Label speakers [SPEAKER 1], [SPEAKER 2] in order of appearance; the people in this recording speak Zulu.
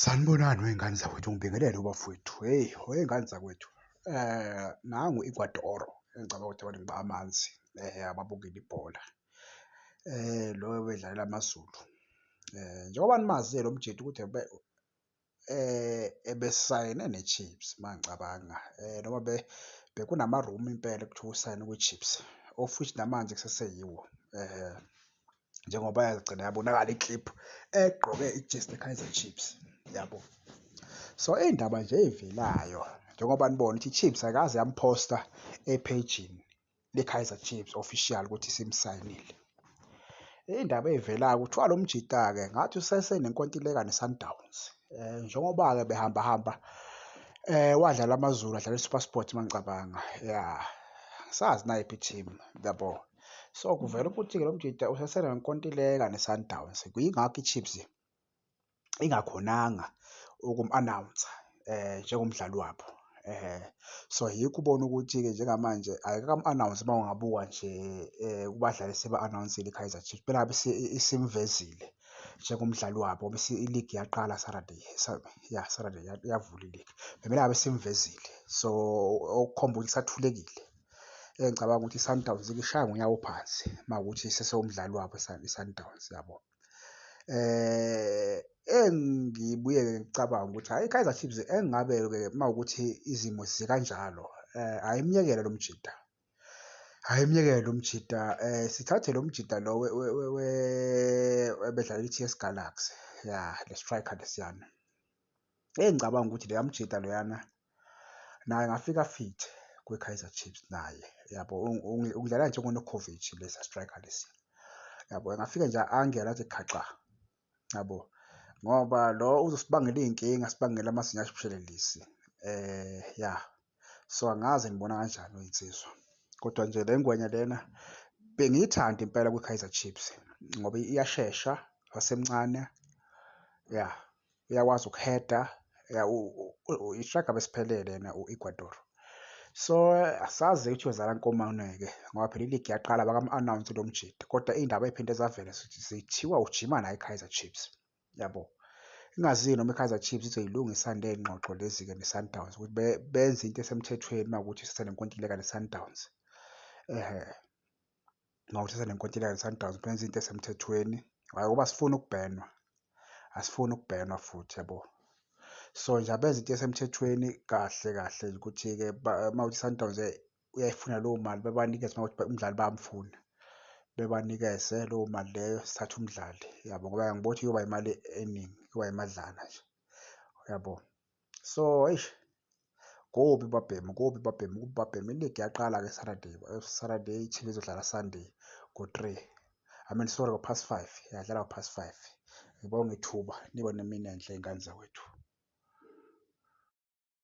[SPEAKER 1] Sanibonani wey'ngane zakwethu, ngibingelele ubafowethu. Hheyi wey'ngane zakwethu nangu igwadoro engicabanga ukuthi abantu ngiba amanzi ababukele ibhola lo obedlalela AmaZulu. Njengoba nimazi-ke lo mjita ukuthi ebesayine neChiefs uma ngicabanga noma bekunama-rumour impela ekuthiwa usayine kwiChiefs of which namanje kuseseyiwo . njengoba yagcina yabonakala i-clip egqoke ijezi le-Kaizer Chiefs yabo. So iy'ndaba nje ey'velayo njengoba nibona ukuthi i-Chiefs ayikaze yamphosta ephejini le-Kaizer Chiefs official ukuthi simsayinile. Iy'ndaba ey'velayo kuthiwa lo mjita-ke ngathi usesenenkontileka ne-Sundowns. Um njengoba-ke behambahamba um wadlala AmaZulu adlala i-SuperSport uma ngicabanga, ya. Angisazi nayiphi i-team yabo. So kuvela ukuthi-ke lo mjita usesenenkontileka neSundowns, kuyingakho iChiefs ingakhonanga ukum-anawunsa um njengomdlali wabo. um So yikho ubona ukuthi-ke njengamanje ayikakamu-anawunsi uma ungabuka nje um kubadlali eseba-anawunsile iKaizer Chiefs, phela ngabe isimvezile njengomdlali wabo ngoba iligi yaqala Saturday, ya Saturday yavula iligi, bebela ngabe isimvezile. So okukhomba ukuthi isathulekile. engicabanga ukuthi iSundowns ikishaya ngonyawo phansi uma ukuthi sesewumdlali wabo iSundowns yabo. Eh engibuye ngicabanga ukuthi hayi iKaizer Chiefs engabe ke uma ukuthi izimo zikanjalo eh ayimyekele lo mjita. Ayimyekele lo mjita eh sithathe lo mjita lo webedlala iTS Galaxy ya le striker lesiyana. Eyi ngicabanga ukuthi leya mjita loyana naye angafika fit kwi-Kaizer Chiefs naye yabo ukudlala njengoNokovic lesa striker lesi yabo engafika nje angela athi khaxa yabo ngoba lo uzosibangela iy'nkinga sibangela amazinyo ashibishelelisi um eh, ya so angazi nibona kanjani oyinsizwa kodwa nje le ngwenya lena bengiyithanda impela kwi-kaizer chiefs ngoba iyashesha wasemncane ya uyakwazi ukuheda ishaga besiphelele yena u-ecuador so asazi ukuthi yozala nkomane-ke ngoba phela iligi yaqala bakam-announce lo mjidi kodwa iy'ndaba ey'phinde zavela zithiwa ujima naye i-kaizer chiefs yabo ingazi noma i-Kaizer Chiefs izoyilungisa le ngxoxo lezi-ke ne-Sundowns ukuthi benze into esemthethweni uma ukuthi uthatha nenkontileka ne-Sundowns ehe uma uthatha nenkontileka ne-Sundowns benze into esemthethweni hhayi ngoba asifuni ukubhenwa asifuni ukubhenwa futhi yabo so nje abenza into esemthethweni kahle kahle ukuthi-ke uma uthi i-Sundowns uyayifuna leyo mali bebanikeze uma ukuthi umdlali bayamfuna bebanikeze leyo mali leyo sithathe umdlali yabo ngoba angiboni ukuthi kuyoba imali eningi kuyoba imadlana nje uyabo so eish kubi babhemu kubi babhemu kubi babhemu iligi yaqala-ke saturday saturday i-chief izodlala sunday ngo-three i mean sorry ngo-past five yadlala ngo-past five ngibonga ithuba niba nemini enhle ingane zakwethu